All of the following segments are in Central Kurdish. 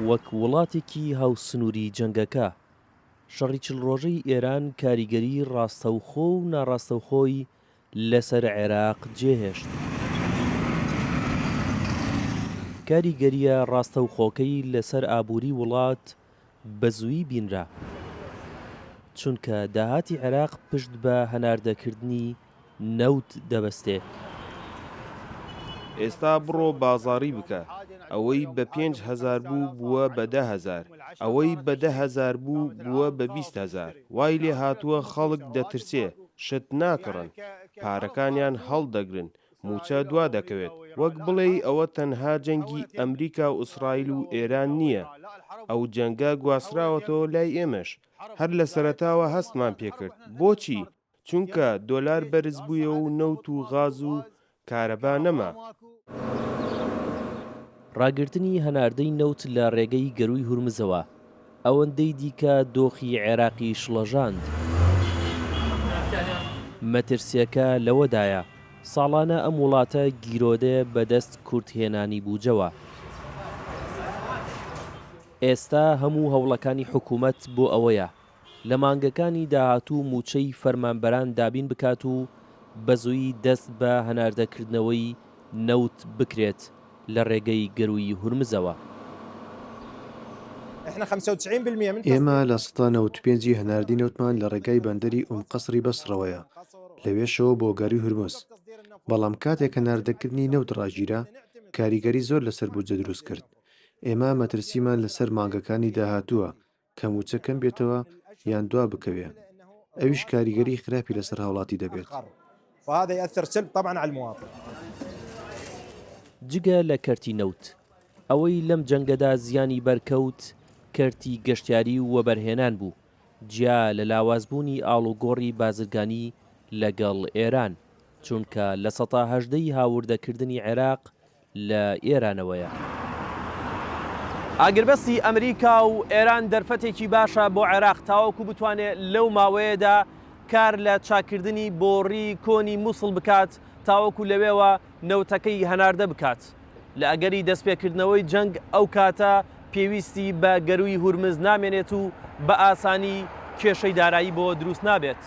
وەک وڵاتێکی هاوسنووری جەنگەکە، شەڕی چل ڕۆژەی ئێران کاریگەری ڕاستەوخۆ و ناڕاستەوخۆی لەسەر عێراق جێهێشت. کاریگەرییە ڕاستەوخۆکەی لەسەر ئابووری وڵات، بەزوویی بینرا، چونکە داهاتی عێراق پشت بە هەناردەکردنی نەوت دەبەستێت. ئێستا بڕۆ بازاڕی بکە، ئەوەی بە پێنج هەزار بوو بووە بە دە هەزار، ئەوەی بە دە هەزار بوو بووە بە بیست هەزار، وای لێهاتووە خەڵک دەترسێ، شت ناکڕن، پارەکانیان هەڵدەگرن، مووچە دوا دەکەوێت، وەک بڵێی ئەوە تەنها جەنگی ئەمریکا و ئیسرائیل و ئێران نییە، ئەو جەنگە گواستراوەتەوە لای ئێمەش، هەر لە سەرەتاوە هەستمان پێ کرد، بۆچی؟ چونکە دۆلار بەرز بوویەوە و نەوت و غاز و کارەبا نەما. ڕاگرتنی هەناردەی نەوت لە ڕێگەی گەرووی هورمزەوە، ئەوەندەی دیکە دۆخی عێراقی شڵەژاند. مەترسییەکە لەوەدایە، ساڵانە ئەم وڵاتە گیرۆدەیە بەدەست کورتهێنانی بوجەوە. ئێستا هەموو هەوڵەکانی حکومەت بۆ ئەوەیە، لە مانگەکانی داهاتوو موچەی فەرمانبەران دابین بکات و بەزوویی دەست بە هەناردەکردنەوەی نەوت بکرێت. لە ڕێگەی گەرووی هورمزەوە. ئێمە لە سەدا نەوەد و پێنج ی هەناردەی نەوتمان لە ڕێگای بەندەری ئوم قەسڕی بەسڕەوەیە، لەوێشەوە بۆ گەرووی هورمز، بەڵام کاتێک هەناردەکردنی نەوت ڕاگیرا، کاریگەری زۆر لەسەر بودجە دروست کرد. ئێمە مەترسیمان لەسەر مانگەکانی داهاتووە کە مووچە کەم بێتەوە یان دوا بکەوێ ئەویش کاریگەری خراپی لەسەر هاوڵاتی دەبێت. جگە لە کەرتی نەوت، ئەوەی لەم جەنگەدا زیانی بەرکەوت کەرتی گەشتیاری و وەبەرهێنان بوو، جیا لە لاوازبوونی ئاڵوگۆڕی بازرگانی لەگەڵ ئێران، چونکە لە سەتا هەژدە ی هاوردەکردنی عێراق لە ئێرانەوەیە. ئاگربەستی ئەمریکا و ئێران دەرفەتێکی باشە بۆ عێراق تاوەکو بتوانێت لەو ماوەیەدا کار لە چاککردنی بۆڕی کۆنی موسڵ بکات تاوەکو لەوێوە نەوتەکەی هەناردە بکات لە ئەگەری دەستپێکردنەوەی جەنگ ئەو کاتە پێویستی بە گەرووی هورمز نامێنێت و بە ئاسانی کێشەی دارایی بۆ دروست نابێت.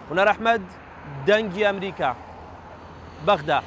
هونەر ئەحمەد، دەنگی ئەمریکا، بەغدا.